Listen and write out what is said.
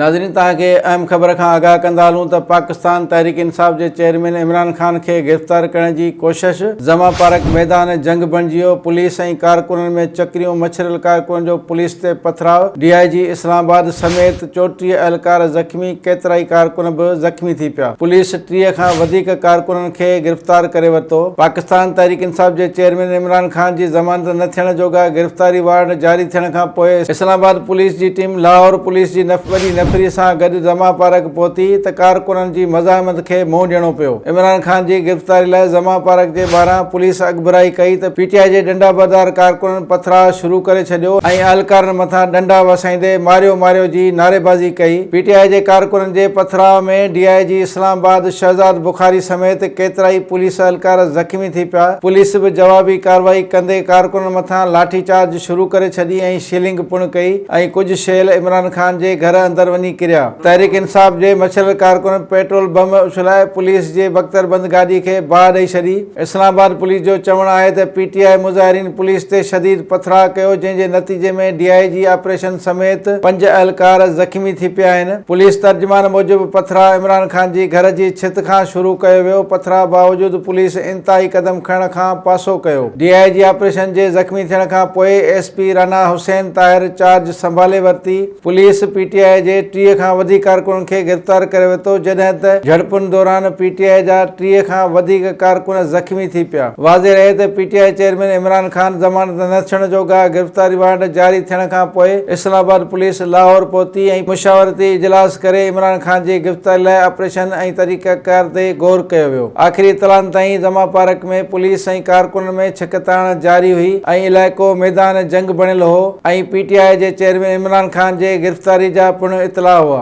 ناظرين توهان کي اهم خبر کان آگاهه ڪندا هلون ته پاڪستان تحريڪ انصاف جي چيئرمين عمران خان کي گرفتار ڪرڻ جي ڪوشش زمان پارڪ ميدان جنگ بڻجي ويو پوليس ۽ ڪارڪنن ۾ چڪريون مڇريل ڪارڪن جو پوليس تي پٿراء ڊي آء جي اسلام آباد سميت چوٽيهه اهلڪار زخمي ڪيترائي ڪارڪن به زخمي ٿي پيا پوليس ٽيهه کان وڌيڪ ڪارڪنن کي گرفتار ڪري ورتو. پاڪستان تحريڪ انصاف جي چيئرمين عمران خان جي ضمانت نه ٿيڻ جوڳا گرفتاري وارنٽ جاري ٿيڻ کان پوء اسلام آباد پوليس جي ٽيم لاهور پوليس جي وڏي نفري سان گڏ زمان پارڪ پهتي ته ڪارڪنن جي مزاحمت کي منهن ڏيڻو پيو. عمران خان جي گرفتاري لاء زمان پارڪ جي ٻاهران پوليس اڳڀرائي ڪئي ته پي ٽي آء جي ڏنڊا بردار ڪارڪنن پٿراء شروع ڪري ڇڏيو ۽ اهلڪارن مٿان ڏنڊا وسائيندي ماريو ماريو جي نعريبازي ڪئي، پي ٽي آء جي ڪارڪنن جي پٿراء ۾ ڊي آء جي اسلام آباد شهزاد بخاري سميت ڪيترائي پوليس اهلڪار زخمي ٿي پيا، پوليس به جوابي ڪارروائي ڪندي ڪارڪنن مٿان لاٺي چارج شروع ڪري ڇڏي ۽ شيلنگ پڻ ڪئي ۽ ڪجهه شيل عمران خان جي گهر اندر وڃي ڪريا. تحريڪ انصاف جي مڇلر ڪارڪنن پيٽرول بم اڇلائي پوليس جي بڪتر بند گاڏي کي باهه ڏئي ڇڏي، اسلام آباد پوليس جو چوڻ آهي ته پي ٽي آء مظاهرين پوليس تي شديد پٿراء ڪيو جنهن جي نتيجي ۾ ڊي آء جي آپريشن سميت پنج اهلڪار زخمي ٿي پيا آهن پوليس ترجمان موجب پٿراء عمران خان جي گهر جي ڇت کان شروع ڪيو ويو پٿراء باوجود پوليس انتهائي قدم کڻڻ کان پاسو ڪيو ڊي آء جي آپريشن جي زخمي ٿيڻ کان پوء ايس پي رنا حسين طاهر چارج سنڀالي ورتي. پوليس پي ٽي آء جي ٽيهه کان وڌيڪ ڪارڪنن کي گرفتار ڪري ورتو جڏهن ته جهڙپن دوران پي ٽي آء جا ٽيهه کان وڌيڪ ڪارڪن زخمي ٿي پيا واضح رهي ته P T I chairman Imran Khan ضمانت نه ٿيڻ جو گاهه گرفتاري وارنٽ جاري ٿيڻ کان پوء اسلام آباد پوليس لاهور پهتي ۽ مشاورتي اجلاس ڪري عمران خان جي گرفتاري لاء آپريشن ۽ طريقه ڪار تي غور ڪيو ويو آخري اطلاعن تائين زما پارڪ ۾ پوليس ۽ ڪارڪنن ۾ ڇڪتاڻ جاري هئي ۽ علائقو ميدان جنگ بڻيل هو ۽ پي ٽي آء جي چيئرمين عمران خان جي گرفتاري جا پڻ اطلاع هئا.